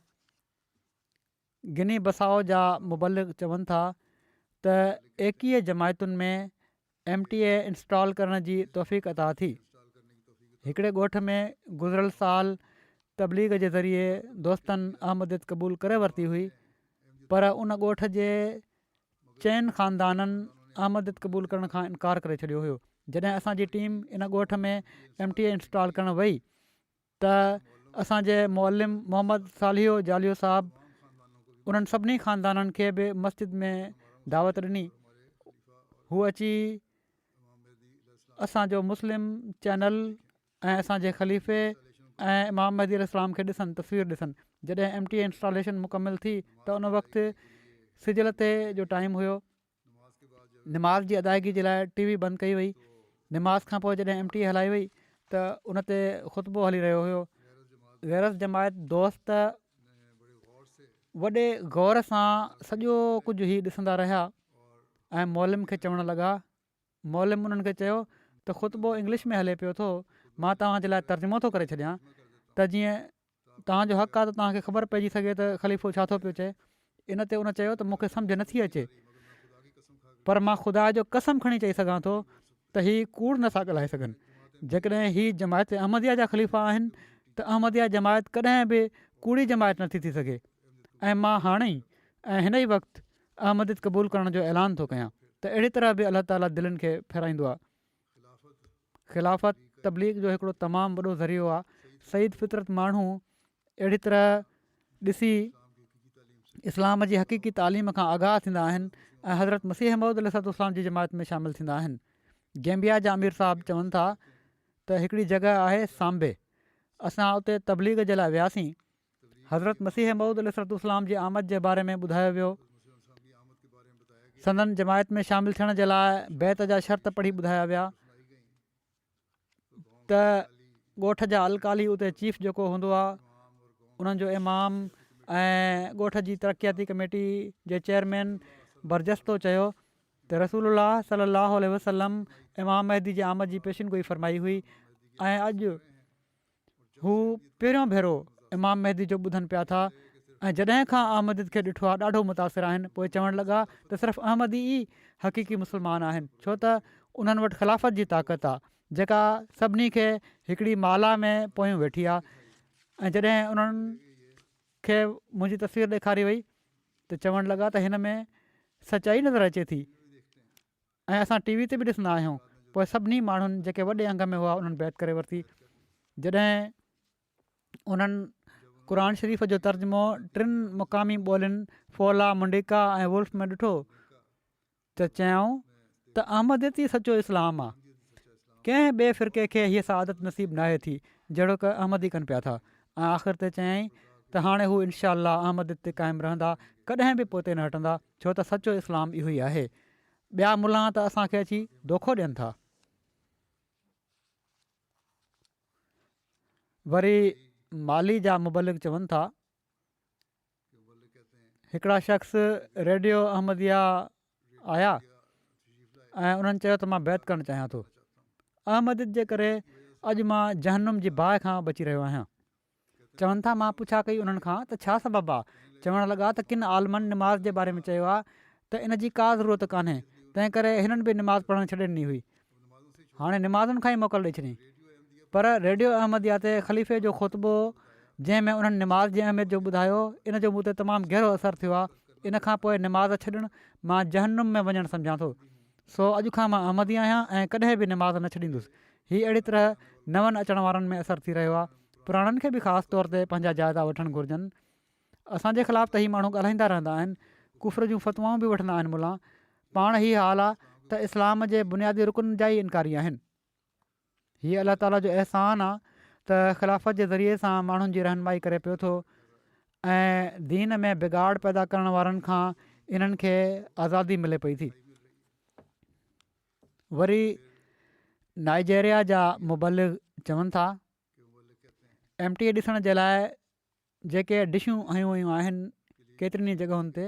گني بسائو جا مبلغ چون ٿا ته ايڪيهه جماعتن ۾ ايم ٽي اي انسٽال ڪرڻ جي توفيق عطا ٿي هڪڙي ڳوٺ ۾ گذريل سال تبليغ جي ذريعي دوستن احمديت قبول ڪري ورتي هئي پر ان ڳوٺ جي چئن خاندانن احمديت قبول ڪرڻ کان انڪار ڪري ڇڏيو هيو جڏهن اسان جي ٽيم ان ڳوٺ ۾ ايم ٽي اي انسٽال ڪرڻ وئي ته اسان جي معلم محمد صالحيو جاليو صاحب انهن سڀني خاندانن کي به مسجد ۾ دعوت ڏني هو اچي اسان جو مسلم چينل ۽ اسان جي خليفي ۽ امام مهدي عليه السلام کي ڏسن تصوير ڏسن جڏهن ايم ٽي اي انسٽاليشن مڪمل ٿي ته ان وقت سجل تي جو ٽائيم هيو نماز جي ادائگي جي لاء ٽي وي بند ڪئي وئي نماز کان پوء جڏهن ايم ٽي اي هلائي وئي ته ان تي خطبو هلي رهيو هيو غيرس جماعت دوست وڏي غور سان سڄو ڪجهه هي ڏسندا رهيا ۽ مولم کي چوڻ لڳا معلم انهن کي چيو ته خطبو انگلش ۾ هلي پيو ٿو مان توهان جي لاء ترجمو ٿو ڪري ڇڏيان ته جيئن توهان جو حق آهي ته توهان کي خبر پئجي سگهي ته خليفو ڇا ٿو پيو چئي ان تي ان چيو ته مون کي سمجهه نٿي اچي پر مان خدا جو قسم کڻي چئي سگهان ٿو ته هي ڪوڙ نٿا ڳالهائي سگهن جيڪڏهن هي جماعت احمديا جا خليفا آهن ته احمديا جماعت ڪڏهن به ڪوڙي جماعت نٿي ٿي سگهي ۽ مان هاڻي ۽ هن ئي وقت احمديت قبول ڪرڻ جو اعلان ٿو ڪيان ته اهڙي طرح به الله تعاليٰ دلين کي ڦيرائيندو آهي خلافت تبليغ جو هڪڙو تمام وڏو ذريعو آهي سعيد فطرت ماڻهو اهڙي طرح ڏسي اسلام جي حقيقي تعليم کان آگاهه ٿيندا آهن ۽ حضرت مسيح محمود السلط اسلام جي جماعت ۾ شامل ٿيندا آهن گيمبيا جا امير صاحب چون ٿا ته هڪڙي جڳهه آهي سانبي اسان اتي تبليغ جي لاء وياسين حضرت مسيح موعود عليه الصلوة والسلام جي آمد جي باري ۾ ٻڌايو ويو سندن جماعت ۾ شامل ٿيڻ جي لاء بيعت جا شرط پڙهي ٻڌايا ويا ته ڳوٺ جا الڪالي اتي چيف جيڪو هوندو آهي انهن جو امام ۽ ڳوٺ جي ترقياتي ڪميٽي جي چيئرمين برجستو چيو ته رسول الله صلي الله عليه وسلم امام مهدي جي آمد جي پيشن گوئي فرمائي هئي ۽ اڄ هو پهريون ڀيرو امام مهدي جو ٻڌن پيا ٿا ۽ جڏهن کان احمديت کي ڏٺو آهي ڏاڍو متاثر آهن پوء چوڻ لڳا ته صرف احمدي ئي حقيقي مسلمان آهن ڇو ته انهن وٽ خلافت جي طاقت آهي جيڪا سڀني کي هڪڙي مالا ۾ پويون ويٺي آهي ۽ جڏهن انهن کي منهنجي تصوير ڏيکاري وئي ته چوڻ لڳا ته هن ۾ سچائي نظر اچي ٿي ۽ اسان ٽي وي تي به ڏسندا آهيون پوء سڀني ماڻهن جيڪي وڏي انگ ۾ هئا انهن بيعت ڪري ورتي جڏهن انهن قرآن شريف جو ترجمو ٽن مقامي ٻولين فولا منڊيڪا ۽ ولف ۾ ڏٺو ته چيائون ته احمديت ئي سچو اسلام آهي ڪنهن ٻئي فرقي کي هيء سعادت نصيب ناهي ٿي جهڙوڪ احمدي ڪن پيا ٿا ۽ آخر تي چيائين ته هاڻي هو انشاء الله احمديت تي قائم رهندا ڪڏهن به پوئتي نه هٽندا ڇو ته سچو اسلام اهو ئي آهي ٻيا ملان ته اسان کي اچي دوکو ڏين ٿا. وري مالي جا مبلغ چون ٿا هڪڙا شخص ريڊيو احمديه آيا ۽ انهن چيو ته مان بيعت ڪرڻ چاهيان ٿو احمديت جي ڪري اڄ مان جهنم جي باهه کان بچي رهيو آهيان. چون ٿا مان پڇا ڪئي انهن کان ته ڇا سبب آ؟ چوڻ لڳا ته ڪن عالمن نماز جي باري ۾ چيو آ ته ان جي ڪا ضرورت ڪانهي تنهن ڪري هنن به نماز پڙهڻ ڇڏي ڏني هئي. هاڻي نمازن کان ئي موڪل ڏئي ڇڏين. پر ريڊيو احمديه تي خليفي جو خطبو جنهن ۾ انهن نماز جي اهميت جو ٻڌايو ان جو مون تي تمام گهرو اثر ٿيو آ ان کان پوء نماز ڇڏڻ مان جهنم ۾ وڃڻ سمجهان ٿو سو اڄ کان مان احمدي آهيان ۽ ڪڏهن به نماز نه ڇڏيندس هي اهڙي طرح نون اچڻ وارن ۾ اثر ٿي رهيو آهي پراڻن کي به خاص طور تي پنهنجا جائزا وٺڻ گهرجن اسان جي خلاف ته هي ماڻهو ڳالهائيندا رهندا آهن ڪفر جون فتوائون به وٺندا آهن ملان پاڻ هي حال آهي ته اسلام جي بنيادي رڪن جا ئي انڪاري آهن هي الله تعالي جو احسان آهي ته خلافت جي ذريعي سان ماڻهن جي رهنمائي ڪري پيو ٿو ۽ دين ۾ بگاڙ پيدا ڪرڻ وارن کان انهن کي آزادي ملي پئي ٿي وري نائيجيريا جا مبلغ چون ٿا ايم ٽي اي ڏسڻ جي لاء جيڪي ڊشون هنيون ويون آهن ڪيترين ئي جڳهين تي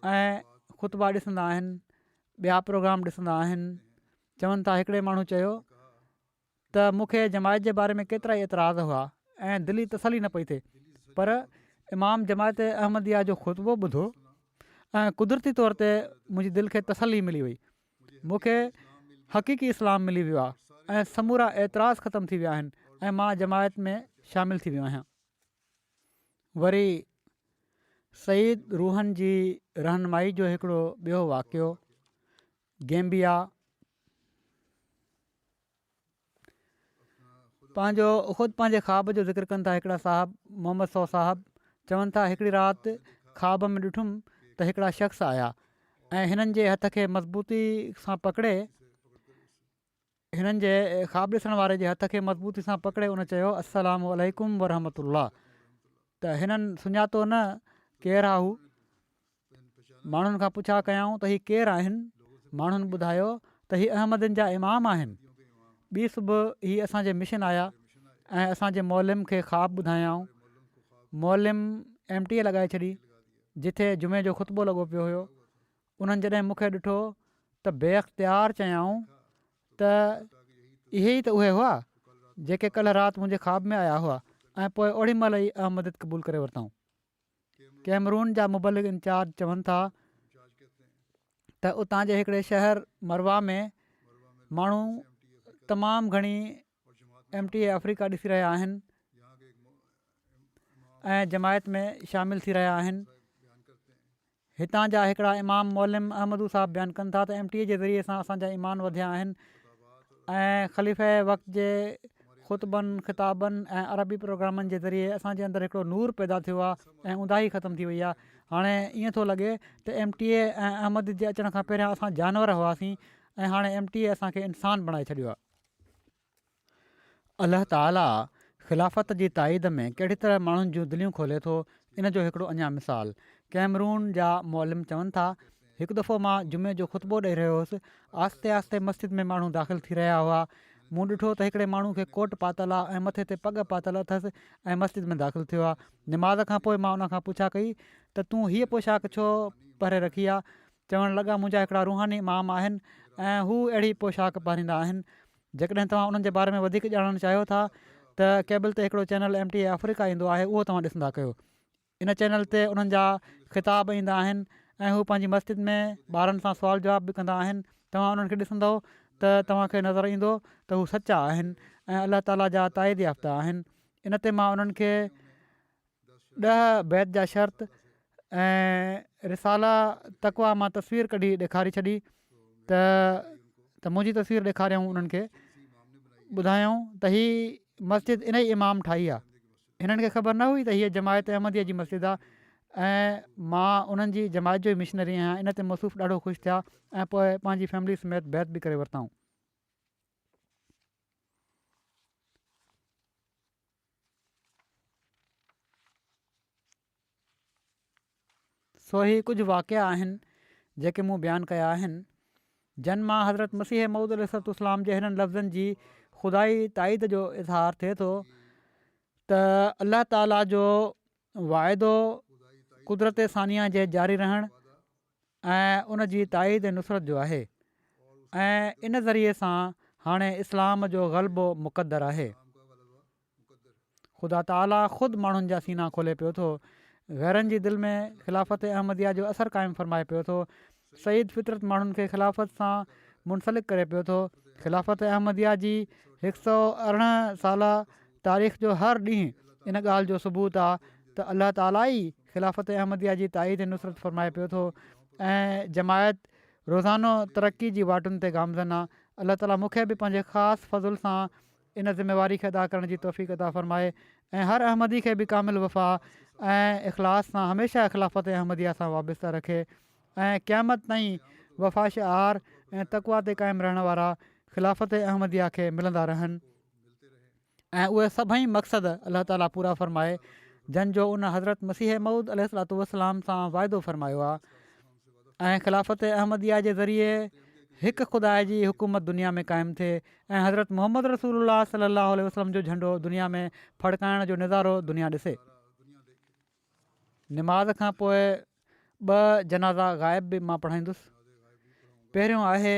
۽ خطبا ڏسندا آهن ٻيا پروگرام ڏسندا آهن چون ٿا هڪڙي ماڻهو چيو ته مون کي جماعت جي باري ۾ ڪيترائي اعتراض هئا ۽ دلي تسلي نه پئي ٿئي پر امام جماعت احمديه جو خطبو ٻڌو ۽ قدرتي طور تي منهنجي دل کي تسلي ملي وئي مون کي حقيقي اسلام ملي ويو آهي ۽ سمورا اعتراض ختم ٿي ويا آهن ۽ مان جماعت ۾ شامل ٿي ويو آهيان وري سيد روحن جي رهنمائي جو هڪڙو ٻيو واقعو گيمبيا پنهنجو خود پنهنجي خواب جو ذڪر ڪن ٿا هڪڙا صاحب محمد سو صاحب چون ٿا هڪڙي رات خواب ۾ ڏٺم ته هڪڙا شخص آيا ۽ هنن جي هٿ کي مضبوطي سان پڪڙي هنن جي خواب ڏسڻ واري جي هٿ کي مضبوطي سان پڪڙي ان چيو السلام عليڪم ورحمة الله ته هنن سڃاتو نه ڪير آ هو ماڻهن کان پڇا ڪيائون ته هي ڪير آهن ماڻهن ٻڌايو ته هي احمدين جا امام آهن ٻي صبح هي اسان جي مشن آيا ۽ اسان جي معلم کي خواب ٻڌايائون معلم ايم ٽي اي لڳائي ڇڏي جتي جمعي جو خطبو لڳو پيو هيو انهن جڏهن مون کي ڏٺو ته بي اختيار چيائون ته اهي ئي ته اهي هئا جيڪي ڪلهه رات منهنجي خواب ۾ آيا هئا ۽ پوء اوڙي مهل ئي احمديت قبول ڪري ورتائون ڪيمرون جا مبلغ انچارج چون ٿا ته اتان جي هڪڙي شهر مروا ۾ ماڻهو تمام گهڻي ايم ٽي اي آفريڪا ڏسي رهيا آهن ۽ جماعت ۾ شامل ٿي رهيا آهن هتان جا هڪڙا امام معلم احمدو صاحب بيان ڪن ٿا ته ايم ٽي اي جي ذريعي سان اسان جا ايمان وڌيا آهن ۽ خليفه وقت جي خطبن، خطابن ۽ عربي پروگرامن جي ذريعي اسان جي اندر هڪڙو نور پيدا ٿيو آهي ۽ اونداهي ختم ٿي وئي آهي هاڻي ائين ٿو لڳي ته ايم ٽي اي ۽ احمد جي اچڻ کان پهريان اسان جانور هئاسين ۽ هاڻي ايم ٽي اي اسان کي انسان بڻائي ڇڏيو آهي. الله تعاليٰ خلافت جي تائيد ۾ ڪهڙي طرح ماڻهن جون دليون کولي ٿو ان جو هڪڙو اڃا مثال ڪيمرون جا معلم چون ٿا هڪ دفعو مان جمعي جو خطبو ڏئي رهيو هوس آهستي آهستي مسجد ۾ ماڻهو داخل ٿي رهيا هئا مون ڏٺو ته هڪڙي ماڻهو کي ڪوٽ پاتل آهي ۽ مٿي تي پڳ پاتل اٿس ۽ مسجد ۾ داخل ٿيو آهي نماز کانپوء مان ان کان پڇا ڪئي ته تون هيء پوشاڪ ڇو پهري رکي آهي چوڻ لڳا، منهنجا هڪڙا روحاني امام آهن ۽ هو اهڙي پوشاڪ پهريندا آهن. جيڪڏهن توهان انهن جي باري ۾ وڌيڪ ڄاڻڻ چاهيو ٿا ته ڪيبل تي هڪڙو channel M T A Africa ايندو آهي اهو توهان ڏسندا ڪيو. ان چينل تي انهن جا خطاب ايندا آهن ۽ هو پنهنجي مسجد ۾ ٻارن سان سوال جواب به ڪندا آهن. توهان انهن کي ڏسندؤ ته توهان کي نظر ايندو ته هو سچا آهن ۽ الله تعالي جا تائيد يافته آهن. ان تي مان انهن کي ڏهه بيت جا شرط ۽ رسالا تقويٰ مان تصوير ڪڍي ڏيکاري ڇڏي ته ته منهنجي تصوير ڏيکاريائون انهن کي ٻڌايائون ته هي مسجد ان ئي امام ٺاهي آهي هنن کي خبر نه هئي ته هيء جماعت احمديء جي مسجد آهي ۽ مان انهن جي جماعت جو ئي مشنري آهيان ان تي مصوف ڏاڍو خوش ٿيا ۽ پوء پنهنجي فيملي سميت بيعت به ڪري ورتائون سو هي ڪجهه واقعا آهن جيڪي مون بيان ڪيا آهن جن مان حضرت مسيح موعود عليه الصلوة والسلام جي هنن لفظن جي خدائي تائيد جو اظهار ٿئي ٿو ته الله تعاليٰ جو واعدو قدرت ثانيه جي جاري رهڻ ۽ ان جي تائيد ۽ نصرت جو آهي ۽ ان ذريعي سان هاڻي اسلام جو غلبو مقدر آهي خدا تعاليٰ خود ماڻهن جا سينا کولي پيو ٿو غيرن جي دل ۾ خلافت احمديه جو اثر قائم فرمائي پيو ٿو سعيد فطرت ماڻهن کي خلافت سان منسلڪ ڪري پيو ٿو خلافت احمديه جي هڪ سو ارڙهن سالا تاريخ جو هر ڏينهن ان ڳالهه جو ثبوت آ ته الله تعالي ئي خلافت احمديه جي تائيد ۽ نصرت فرمائي پيو ٿو ۽ جماعت روزانو ترقي جي واٽن تي گامزن آ الله تعالي مون کي به پنهنجي خاص فضل سان ان ذميواري کي ادا ڪرڻ جي توفيق عطا فرمائي ۽ هر احمدي کي به ڪامل وفا ۽ اخلاص سان هميشه خلافت احمديه سان وابسته رکي ۽ قيامت تائين وفا شعار ۽ تقويٰ تي قائم رهڻ وارا خلافت احمديه کي ملندا رهن ۽ اهي سڀئي مقصد الله تعالي پورا فرمائي جن جو ان حضرت مسيح مئود عليه الصلاط والسلام سان واعدو فرمايو آهي ۽ خلافت احمديه جي ذريعي هڪ خدا جي حڪومت دنيا ۾ قائم ٿئي ۽ حضرت محمد رسول الله صلي الله عليه وسلم جو جهنڊو دنيا ۾ ڦڙڪائڻ جو نظارو دنيا ڏسي نماز کان پوء ٻه جنازا غائب به مان پڙهائيندس پهريون آهي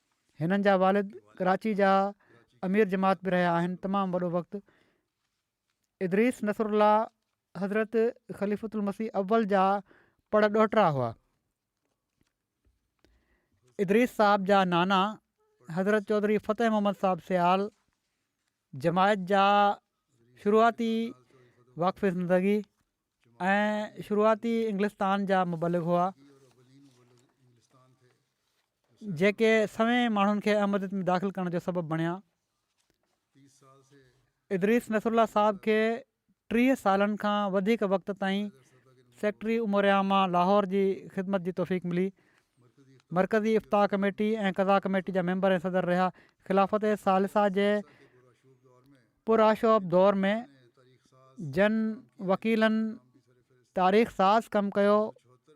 هنن جا والد ڪراچي جا امير جماعت به رهيا آهن تمام وڏو وقت ادريس نصرالله حضرت خليفة المسيح اول جا پڙ ڏوهٽرا هئا ادريس صاحب جا نانا حضرت چوڌري فتح محمد صاحب سيال جماعت جا شروعاتي واقف زندگي ۽ شروعاتي انگلستان جا مبلغ هئا جيڪي سوين ماڻهن کي احمديت ۾ داخل ڪرڻ جو سبب بڻيا ادريس نصرالله صاحب کي ٽيهه سالن کان وڌيڪ وقت تائين سيڪريٽري امور عامه لاهور جي خدمت جي توفيق ملي مرڪزي افطا ڪميٽي ۽ قضا ڪميٽي جا ميمبر ۽ صدر رهيا خلافت ثالثه جي پرآشوب دور ۾ جن وڪيلن تاريخ ساز ڪم ڪيو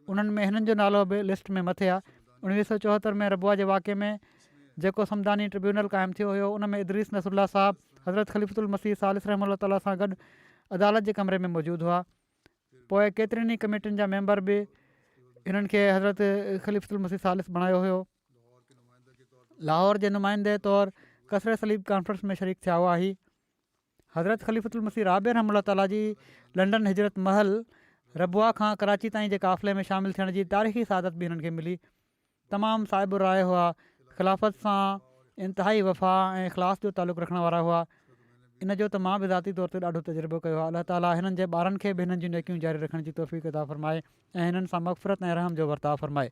انهن ۾ هنن جو نالو به لسٽ ۾ مٿي آهي اڻويهه سو چوهتر ۾ ربوه جي واقعي ۾ جيڪو صمداني ٽربيونل قائم ٿيو هيو ان ۾ ادريس نصرالله صاحب حضرت خليفت المسيح ثالث رحمه الله تعاليٰ سان گڏ عدالت جي ڪمري ۾ موجود هئا پوء ڪيترين ئي ڪميٽين جا ميمبر به هنن کي حضرت خليفت المسيح ثالث بڻايو هيو لاهور جي نمائندي طور ڪسري صليب ڪانفرنس ۾ شريڪ ٿيا هئا هي حضرت خليفت المسيح رابع رحمه الله تعالٰي جي لنڊن هجرت محل ربوه کان ڪراچي تائين جي قافلي ۾ شامل ٿيڻ جي تاريخي سعادت به هنن کي ملي تمام صاحب الراء هئا خلافت سان انتهائي وفا ۽ اخلاص جو تعلق رکڻ وارا هئا ان جو ته مان به ذاتي طور تي ڏاڍو تجربو ڪيو آهي الله تعالٰي هنن جي ٻارن کي به هنن جون نيڪيون جاري رکڻ جي توفيق ادا فرمائي ۽ هنن سان مغفرت ۽ رحم جو ورتاء فرمائي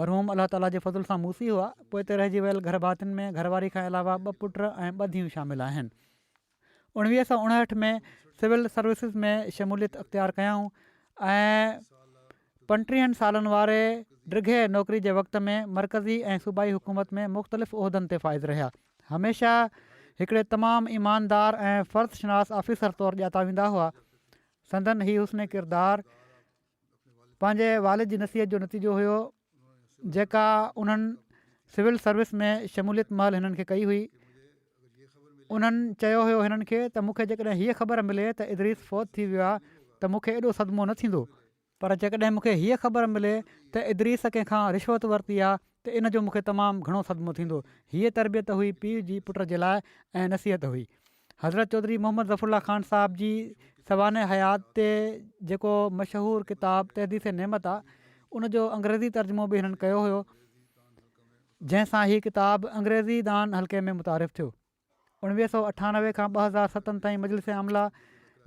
مرحوم الله تعاليٰ جي فضل سان موسي هئا. پوئتي رهجي ويل گهر ڀاتين ۾ گهر واري کان علاوه ٻه پٽ ۽ ٻه ڌيئون شامل آهن. اوڻويهه سؤ اڻهٺ ۾ سول سروسز ۾ شموليت اختيار ڪيائون ۽ پنٽيهن سالن واري ڊگهي نوڪري جي وقت ۾ مرڪزي ۽ صوبائي حڪومت ۾ مختلف عهدن تي فائز رهيا. هميشه هڪڙي تمام ايماندار ۽ فرد شناس آفيسر طور ڄاتا ويندا هئا. سندن هي حسن ڪردار پنهنجي والد جي نصيحت جو نتيجو هيو جيڪا انهن سول سروس ۾ شموليت مهل هنن کي ڪئي هئي انهن چيو هيو هنن کي ته مون کي جيڪڏهن هيء خبر ملي ته ادريس فوت ٿي ويو آهي ته مون کي ايڏو صدمو نه ٿيندو پر جيڪڏهن مون کي هيء خبر ملي ته ادريس ڪنهن کان رشوت ورتي آهي ته ان جو مون کي تمام گهڻو صدمو ٿيندو هيء تربيت هئي پيء جي پٽ جي لاء ۽ نصيحت هئي حضرت چوڌري محمد ظفر الله خان صاحب جي سوانح حيات تي جيڪو مشهور ڪتاب تحديث نعمت آ ان جو انگريزي ترجمو به هنن ڪيو هيو جنهن سان هي ڪتاب انگريزي دان حلقي ۾ متعارف ٿيو اڻويهه سو اٺانوي کان ٻه هزار ستن تائين مجلس عامله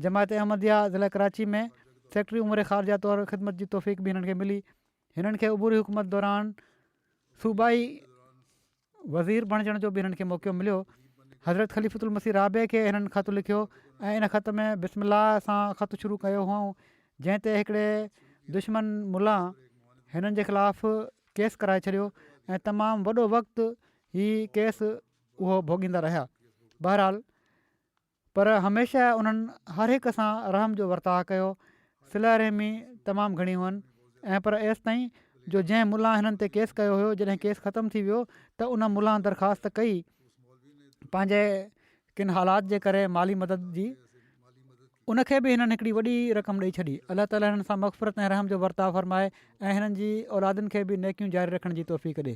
جماعت احمديه ضلع ڪراچي ۾ سيڪريٽري امور خارجه طور خدمت جي توفيق به هنن کي ملي هنن کي عبوري حڪومت دوران صوبائي وزير بڻجڻ جو به هنن کي موقعو مليو. حضرت خليفة المسيح رابع کي هنن خط لکيو ۽ ان خط ۾ بسم الله سان خط شروع ڪيو هئائون جنهن تي هڪڙي دشمن ملا هنن جي خلاف ڪيس ڪرائي ڇڏيو ۽ تمام وڏو وقت هي ڪيس اهو ڀوڳيندا رهيا. بهرحال پر هميشه انهن هر هڪ سان رحم جو ورتاء ڪيو، صله رحمي تمام گهڻي هئن ۽ پر ايستائين جو جنهن ملان هنن تي ڪيس ڪيو هيو جڏهن ڪيس ختم ٿي ويو ته ان ملان درخواست ڪئي پنهنجي ڪن حالات جي ڪري مالي مدد جي ان کي به هنن هڪڙي وڏي رقم ڏئي ڇڏي الله تعالي هنن سان مغفرت ۽ رحم جو ورتاء فرمائي ۽ هنن جي اولادن کي به نيڪيون جاري رکڻ جي توفيق ڏي.